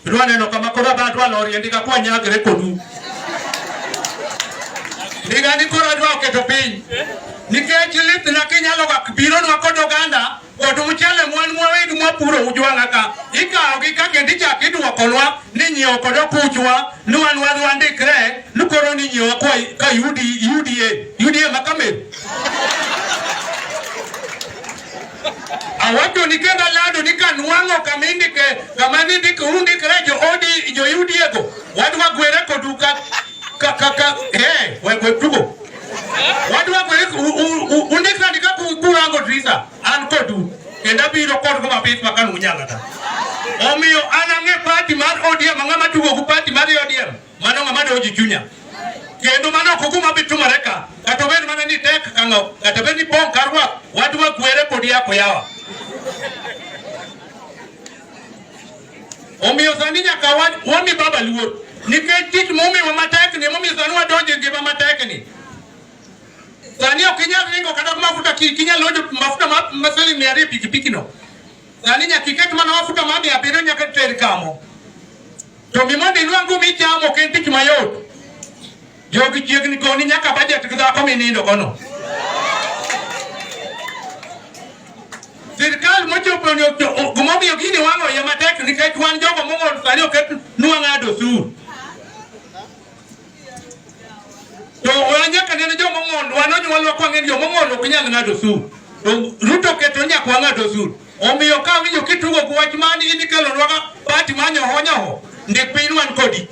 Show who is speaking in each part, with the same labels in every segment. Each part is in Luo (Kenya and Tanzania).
Speaker 1: Rwa neno kama koro adwa dwa lorie ndiga kwa nyagre kodu. Ndiga ni koro adwa oketo piny. Nikech lith na kinyalo ga biro nwa kod oganda kod mchele mwan mwawegi mwapuro ujwang'a ka. Ikawo gi ka kendo ichak idwokonwa ni nyiewo kod okuchwa ni wan wan wandikre ni koro ni nyiewo kwa ka yudi yudie yudie makamer. Awacho ni kenda lado ni kan wango kamindi ke kamani dik undi kre jo odi jo yudi ego wadwa gwere ko duka ka ka ka eh we we tugo wadwa gwere undi kre dika ku ku wango drisa an ko du kenda biro ko ko mabit makan unyala ta omiyo anange party mar odi mangama tugo ku party mar odi mano ng'ama dewo ji chunya kendo mano ok oguma bitumore ka kata obed mana ni tek kang'o kata bed ni pong' kar rwak wadwa kwere pod yako yawa omiyo sani nyaka wami baba luor nikech tich momiwa matekni emomiyo sani wadonjo e ngima matekni sani ok inyal ringo kata mafuta kinyal lojo mafuta ma siling mia ariyo pikipikino sani nyaka iket mana mafuta ma mia abiriyo nyaka ter kamo To gima mondo inwang'u michamo ok en tich mayot. Jogi chiegni koni nyaka bajet gi dhako minindo kono. Sirkal mochopo ni gimomiyo gini wang'o iye matek nikech wan jogo mong'ol sani oket nwang'ado osuru. To wanyaka neno jo mong'ondo, wan onyuolwa kwa ng'eni jo mong'ondo ok nyal ng'ado osuru. To Ruto keto nyaka wang'ad osuru. Omiyo ka winjo kitugo gi wach mani in ikelo nwaga pati manyo honyo ho, ndik piny wan kodi.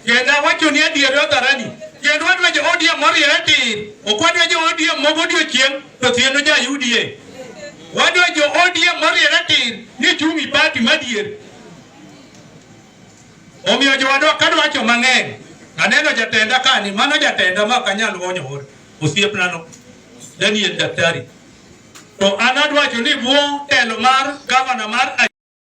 Speaker 1: Kendo awacho ni adier odharani, kendo wadwa jo ODM moriere tir, ok wadwa jo ODM mogo odiochieng' to thieno ja UDA. Wadwa jo ODM moriere tir ni chumi pati madier. Omiyo jowadwa kadwacho mang'eny, aneno jatenda kani, mano jatenda ma ok anyal wonyo hore, osiepnano Daniel Daktari. To an adwacho ni bwo telo mar gavana mar